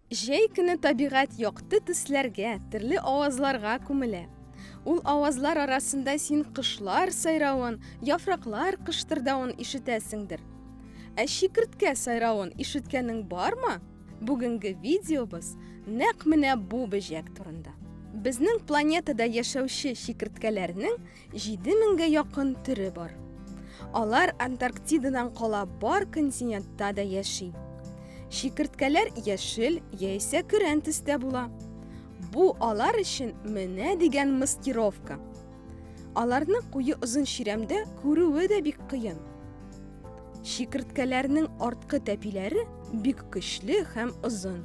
Җәй көне табигать якты төсләргә, төрле авазларга күмелә. Ул авазлар арасында син кышлар сайравын, яфраклар кыштырдавын ишетәсеңдер. Ә чикерткә сайравын ишеткәнең бармы? Бүгенге видеобыз нәкъ менә бу бөҗәк турында. Безнең планетада яшәүче чикерткәләрнең 7000гә якын төре бар. Алар Антарктидадан кала бар континентта да яши. Чикерткәләр яшел яисә көрән төстә була. Бу алар өчен менә дигән маскировка. Аларны куе озын чирәмдә күрүе дә бик кыен. Чикерткәләрнең арткы тәпиләре бик көчле һәм озын.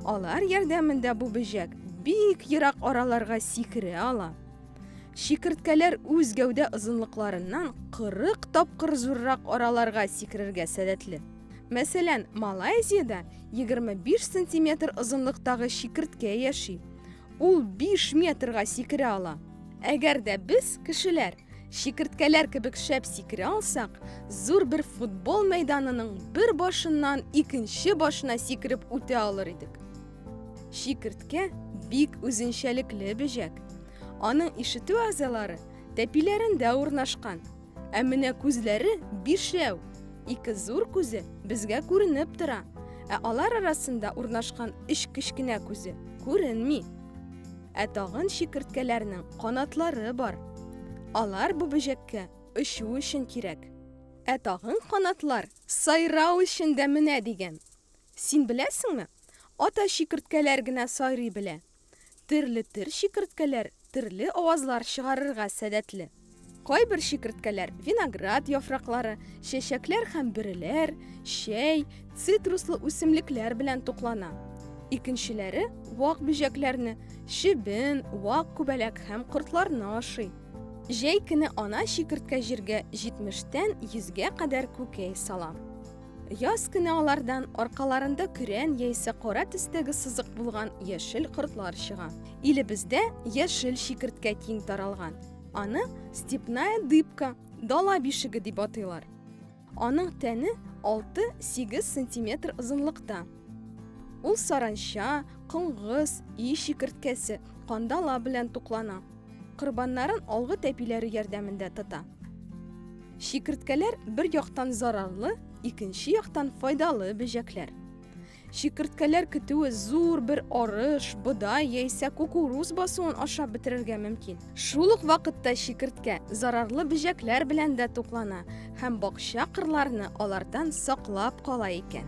Алар ярдәмендә бу бөҗәк бик ерак араларга сикерә ала. Чикерткәләр үз гәүдә озынлыкларыннан 40 тапкыр зуррак араларга сикерергә сәләтле. Мәсәлән, Малайзиядә 25 сантиметр озынлыктагы чикерткә яши. Ул биш метрга сикерә ала. Әгәр дә без, кешеләр, чикерткәләр кебек шәп сикерә алсак, зур бер футбол мәйданының бер башыннан икенче башына сикереп үтә алыр идек. Чикерткә бик үзенчәлекле бөҗәк. Аның ишетү әгъзалары тәпиләрендә урнашкан. Ә менә күзләре бишәү. Ике зур күзе безгә күренеп тора, ә алар арасында урнашкан өч кечкенә күзе күренми. Ә тагын чикерткәләрнең канатлары бар. Алар бу бөҗәккә очу өчен кирәк. Ә тагын канатлар сайрау өчен дә менә дигән. Син беләсеңме? Ата чикерткәләр генә сайрый белә. Терле тер чикерткәләр терле авазлар чыгарырга сәләтле. Кайбер чикерткәләр виноград яфраклары, чәчәкләр һәм бөреләр, чәй, цитруслы үсемлекләр белән туклана. Икенчеләре вак бөҗәкләрне, чебен, вак күбәләк һәм кортларны ашый. Җәй көне ана чикерткә җиргә 70 тән 100 гә кадәр күкәй сала. Яз көне алардан аркаларында көрән яисә кара төстәге сызык булган яшел кортлар чыга. Илебездә яшел чикерткә киң таралган. Аны степная дыбка, дала бишеге дип атыйлар. Аның тәне 6-8 сантиметр озынлыкта. Ул саранча, коңгыз, и чикерткәсе, кандала белән туклана. Корбаннарын алгы тәпиләре ярдәмендә тота. Чикерткәләр бер яктан зарарлы, икенче яктан файдалы бөҗәкләр. Чикерткәләр көтүе зур бер арыш, бодай яисә кукуруз басуын ашап бетерергә мөмкин. Шул ук вакытта чикерткә зарарлы бөҗәкләр белән дә туклана һәм бакча кырларны алардан саклап кала икән.